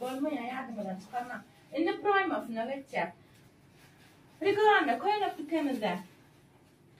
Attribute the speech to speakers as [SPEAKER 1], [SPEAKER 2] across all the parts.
[SPEAKER 1] Bolmaýar ýadyňyzdan çykarmaň. Indi proýmasyna geçjek. Reklama köýnek dükemizde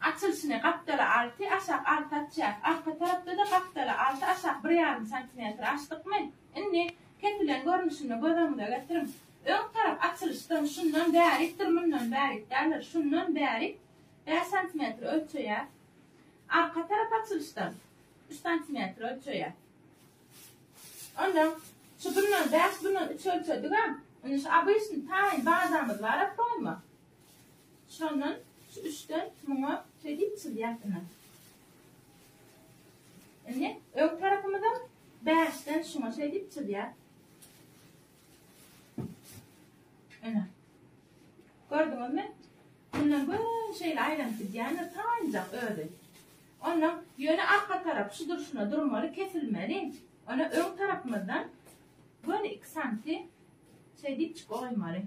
[SPEAKER 1] açylyşyny gapdala alty, aşak alty açýas. Arka tarapda-da gapdala alty, aşak bir ýarym santimetr açdykmy? Indi kesilen görnüşini göz öňüňize getiriň. Öň tarap açylyşdan şundan bärikdir, mundan bärik däldir. Şundan bärik bäş santimetr ölçeýäs. Arka tarap açylyşdan üç santimetr ölçeýäs. Onda şu bundan bäş bundan üç ölçedigem. Indi şu abyşny taýyn bazamyz bar apoýma. Şondan şu üçden muňa şeýdip çyzýas ine. Indi öň tarapymyza bäşden şuňa şeýdip çyzýas. Ene. Gördüňizmi? Bundan göni şeýle aýlanyp gidýändir, taýynjak özi. Ondan ýöne arka tarap şu durşuna durmaly, kesilmeli. Ona öň tarapymyzdan göni 2 santi şeý diýip çyk goýmaly.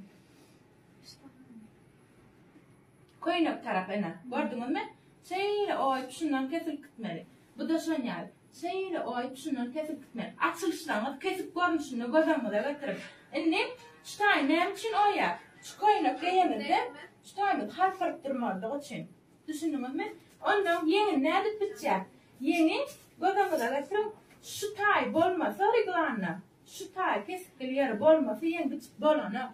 [SPEAKER 1] Köýnek tarap ene. Gördüňizmi? Şeýle oýup şundan kesilip gitmeli. Bu da şonýal. Şeýle oý düşünen kesik gitmek. Açylyşlaryňyzy kesik görnüşinde göz öňüňize getiriň. Indi şu taýy näme üçin oýýar? Şu köýnek geýemizde şu taýymyz halkyryp durmazlygy üçin. Düşündiňizmi? Onda ýeňi nädip bitýär? Ýeňi göz öňüňize getiriň, şu taý bolmasa reglanda, şu taý kesikli ýeri bolmasa ýeň bitip bolanok.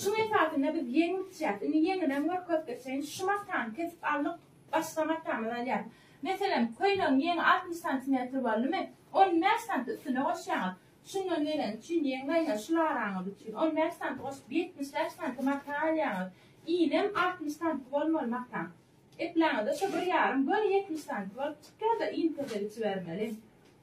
[SPEAKER 1] Şuň esasynda biz ýeňip içýäs. Indi ýeňinem görkezseýin. Şu matany kesip aldyk. Başga matamyzy alýas. Meselem, köýnegiň ýeňi altmyş santimetr boldumy, on bäş santy üstüne goşýaňyz. Şundan geleni üçin ýeň gaýnar şu laraňyz üçin. On bäş santy goşup, ýetmiş bäş santy mata alýaňyz. Inem altmyş santy bolmaly mataň. Epläňiz-de, şo bir ýarym, göni ýetmiş santy bolup çykýar-da, iň pese biçibermeli.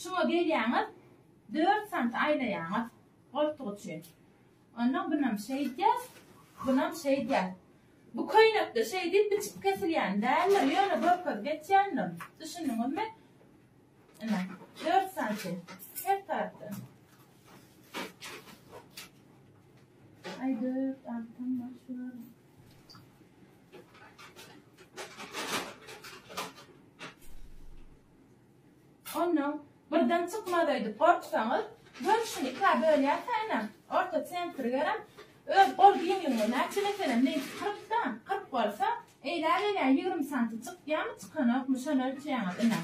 [SPEAKER 1] Şuňa gelýäňiz, dört sant aýlaýaňyz goltuk üçin. Onnoň bunam şeýdýär, bunam şeýdýär. Bu köýnekde şeý diýip biçip kesilýän däldir, ýöne görkezip geçýändim. Düşündiňizmi? Ine, dört santy her tarapdan. Aý, dört, altym bar şular. Ondan birden çykmaz öýdüp gorksaňyz, görnüşini ikä bölýärkänem, orta sentri gerem, öz gol giňligiňe näçe meselem meýit kyrkda, kyrk bolsa, eýlägelýär ýigrimi santy çykýamy, çykanokmy, şony ölçeýäňiz ine.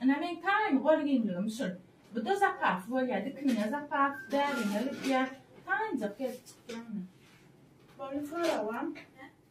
[SPEAKER 1] Ine meň taýyn gol giňligim şul. Bu-da zapas bolýar, dikiniňe zapas, bäriňe gitýär. Taýynjak gelip çykýar ine. Boldy soragam.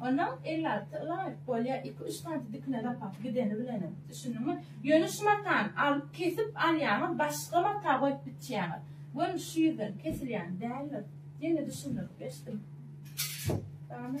[SPEAKER 1] Onam ellalty ylaýyk bolýa iki-üç santy dikine dapaky gideni bilenem. Düşündiňmi? Ýöne şu matany alyp kesip alýaňyz başga mata goýup biçýäňiz. Görün şu ýüzden kesilýän däldir. Ýene düşündirip geçdim. Dagynam.